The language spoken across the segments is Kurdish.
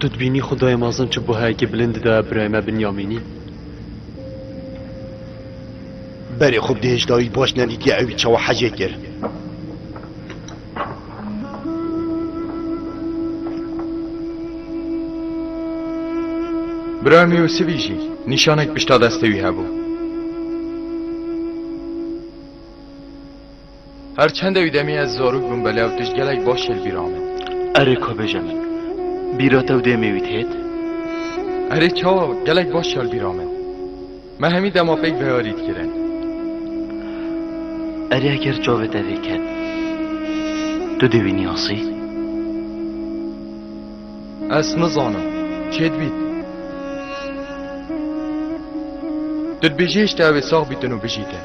Tu dibînî xudayê mezin çi buhayekî bilind didaya birayê me Binyamînî? Berê xwe bi dihêjdayî baş nedîtiye ewî çawa hecê kir. Birayê me Yûsivî jî nîşanek pişta destê wî hebû. Her çend ew demê ez zarûk bûm belew tişt gelek baş li bîra min. Erê ka bêje min. Bîra te û demê wî têt? Erê çawa gelek baş li bîra min. Me hemî dema pêk veyarî dikirin. Erê eger çavê te vê ket. Tu dê wî niyasî? Ez nizanim. Çêt bît. Tu dibêjî hişt ew ê sax bîtin û bijîtin.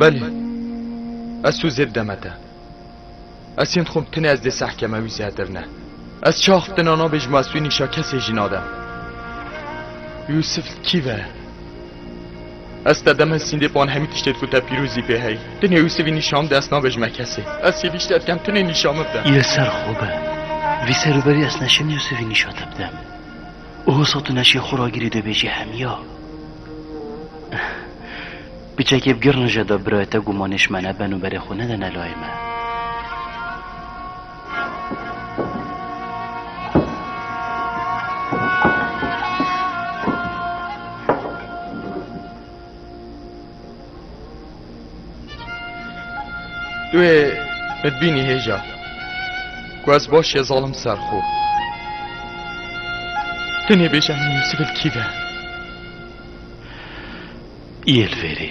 Belê, ez tu zêb deme te. Ez yên dixwim tenê ez dê seh keme wî zêtir ne. Ez çax bi te nana bê ji ma ez tu nîşa kesê jî nadim. Yûsif li kî ve ye? Ez te demê sîndê ban hemî tiştê ku te pîrozî pê heyî. Tu nê Yûsivî nîşan bide ez nabêjime kesê. Ez sîvî ji te dikem tu nê nîşan min bide. Î ser xwe be. Vî ser û berî ez neşim Yûsivî nîşa te bidem. Û hosa tu neşê xwe ragirî dibêjî hemîya. Piçekê bi girnije de birayê te gumanê ji me neben û berê xwe nedene layê me. Tu ê min bînî hêja ku ez baş ye zalim ser xwe. Tu nêbêje min Yûsif li kî ve. Yê li vêrê.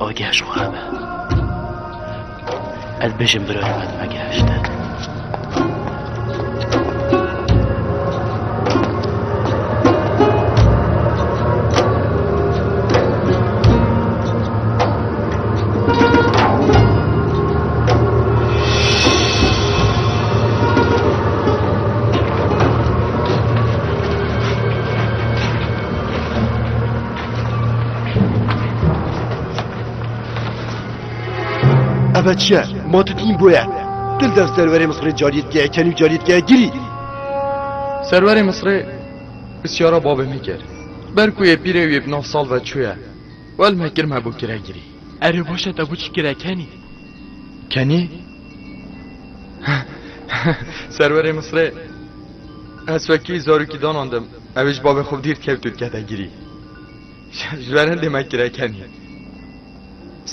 Ew gihişt xwe hebe. Ez bijim birorê me dime gihişte. Ebe çiye? Ma tu tîn boye. Dil dev serverê Misirê cariyetgeye kenî û cariyetgeye girî. Serverê Misirê pisyara babê min kir. Ber ku yê pîrê wî bi nav sal ve çûye. Wel me kir me bo kire girî. Erê baş e te bo çi kire kenî? Kenî? Serverê Misirê ez wekî zarokî danan dim. Ew ê ji bavê xwe bi dîrt kevt û dikete girî. Ji ber hindê me kireken î.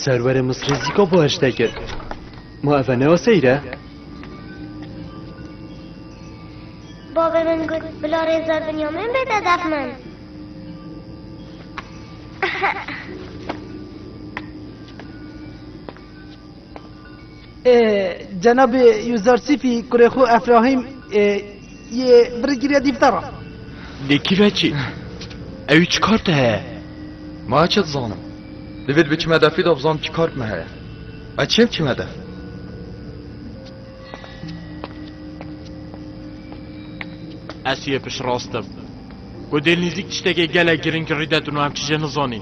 Serwerê Misirê zîka bi heştê kir. Ma ev e ne aseyîr e? Bavê min got bila rêza Binyamin bête dev min. Cenabê Yûzarsîfî kurê xwe Efrahîm yê birê kiriye dîfte re. Lê kî ve çi? Ewî çi kar te heye? Ma çi dizanim? Divêt biçime defî de bizanim çi kar me heye. Ez çêm çime def. Ez yê piştrast im. Ku dêlnîzîk tiştekê gelek girîng rî de tu niha em çi jê nizanî.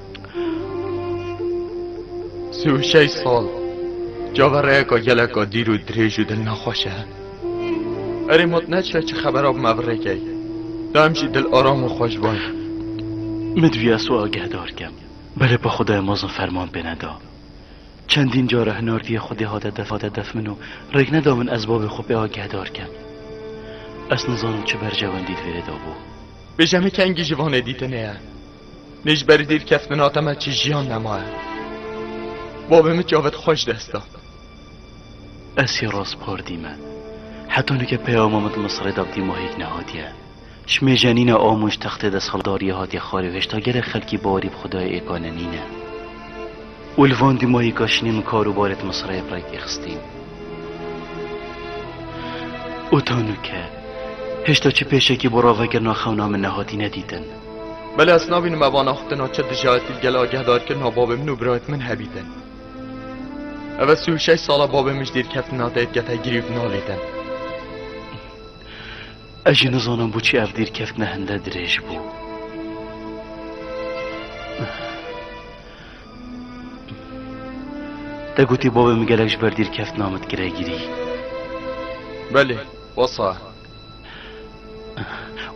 Sî û şeş sal cavereyeka geleka dîr û dirêj û dil nexweş e. Erê mat neçe çi xebera bi me birêkey. Tu em jî dil aram û xweş bay. Min divî ez xwe agehdar kem. Belê pa Xwedayê mezin ferman pê neda. Çendîn cara hinardiyê Xwedê hate def hate def min û rêk neda min ez bavê xwe pê agehdar kem. Ez nizanim çi bercewendî divêrê dabû. Bêje min kengî ji vanê dîtinê ye. Lê ji berî dîrkeftina te me çi jiyan nemaye. Bavê min çavê te xwe ji dest da. Esê raspar dîme. Heta nike peyama min di Misirê de bi dîmahêk nehatiye. Ji mêjenîna a min ji textê de saldariyê hatiye xwarê û hêşta gelek xelkî bawerî bi xwedayê êkane nîne. Û li van dîmahêka şinê min kar û barê di Misirê yê bi rêkê xistîn. Û ta nike hêşta çi pêşekî bo ravekirina xewna min nehatîne dîtin. Belê ez nabînim mevana xwe tena çi dijayetî li gel agehdarkirina babê min û birayê min hebîtin. Ev ez sî û şeş sala babê min ji dîrkeftina te dikete girî û nalîtin. Ez jî nizanim boçî ev dîrkeftina hinde dirêj bû. Te gotî babê min gelek ji ber dîrkeftina min dikire girî. Belê, wasa.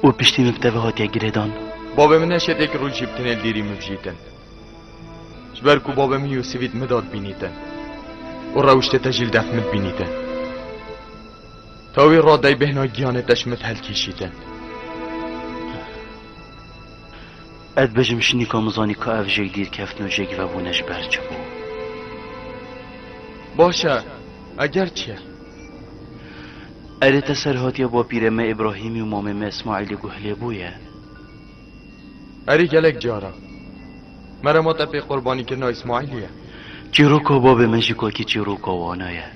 û piştî min bi te ve hatiye girêdan. Bavê min ne şetêk rû jî bi tinê li dîrî min vijîtin. Ji ber ku bavê min Yûsivî di min de dibînîtin û rewiştê te jî li def min dibînîtin. Te wî ra dey bêhna giyanê te ji min helkîşîtin. Ez dibêjim şinîka min zanî ka ev jêk dîr keftin û jêk vebûne ji ber çi bû. Baş e, eger çi ye. Erê te serhatiya bapîrê me Îbrahîmî û mamê me Îsmaîlî guh lê bûye. Erê gelek cara. Mere ma te pê qurbanîkirina Îsmaîlî ye. Çîroka babê me jî kakî çîroka wana ye.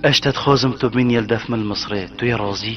Eş te dixwazim tu bînî li def min li Misrê, tu yê razî?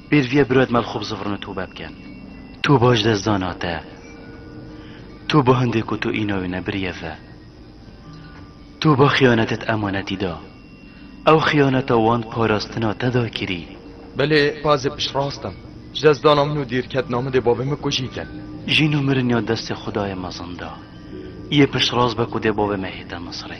Pêrvîye birod me li xwe bi zivirine tobe bikin. Tu baş dest dana te. Tu ba hindê ku tu îna wî nebiriye ve. Tu ba xiyanetet emanetî da. Ew xiyaneta wan parastina te da kirî. Belê pazê piştrast im. Ji dest dana min û dîrketina min dê bavê min kujî kin. Jîn û mirin ya destê xudayê mezin da. Yê piştrast be ku dê bavê me hête Misirê.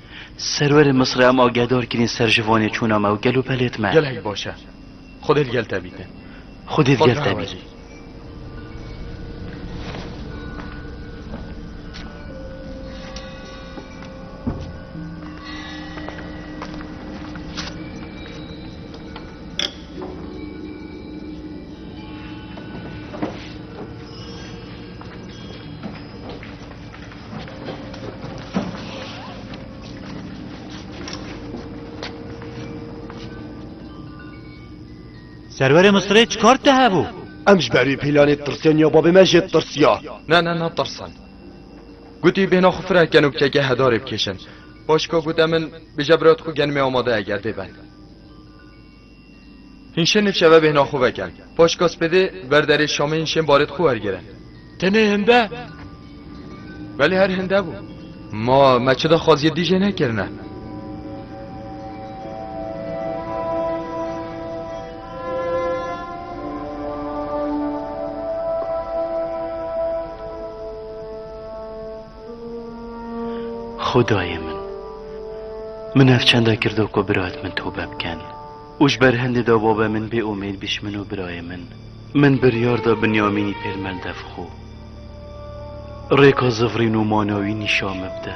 Serwerê Misrê em agedar kirîn ser ji Vanê çûna me û gel û pelêt me. Gelek baş e. Xwedê li gel te bîte. Xwedê li gel te bîte. Serverê Misirê çi kar te hebû? Em ji berî pîlanê tirsiyan ya babê me jê tirsiya. Ne ne ne tirsan. Gotî bêhna xwe fireh ken û keke hedarê bikêşin. Paşka gote min bêje bira te xwe genimê amade ye gerdê ben. Hîn şên nivşeve bêhna xwe veken. Paş ka spêdê ber derê Şamê hîn şên barêt xwe wergere. Tenê hinde? Belê her hinde bû. Ma me çi daxwaziyê dî jê nekirine. Xwedayê min! Min ev çanda kirdo ku birayt min tobe bikin û ji ber hindê da bavê min bê umêd bî ji min û birayê min. Min biryar da Binyamînî pêl melde bi xwe. Rêka zivrîn û mana wî nîşan min bide.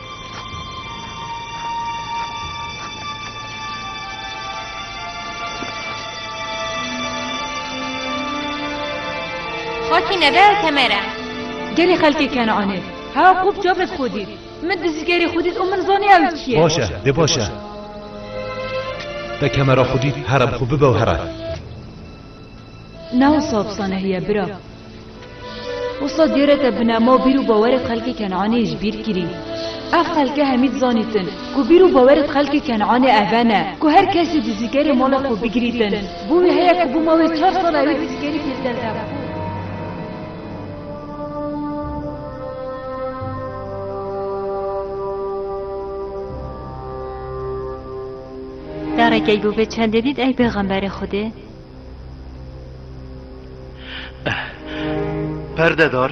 Xaki nebe ew kemere. Gelê xelkê Kenaanê. Ha qûp çavêt xwe dît. Min dizî gerê xwe dît û min zanî ew çi ye. Baş e, dê baş e. Te kemera xwe dît here bi xwe bibe û here. Nav sab sanehiye bira. Wisa dêreke binema û bîr û bawerê xelkê Kenanê ji bîr kirî. Ev xelke hemî dizanîtin ku bîr û bawerê xelkê Kenanê ev e ne ku her kesî dizîkerê mala xwe bigirîtin. Bo wî heye ku bo mawê çar sal ewê dizîkerî pêl der de xwe. Careke ku vê çendê dît ey pêxemberê Xwedê. Perdedar.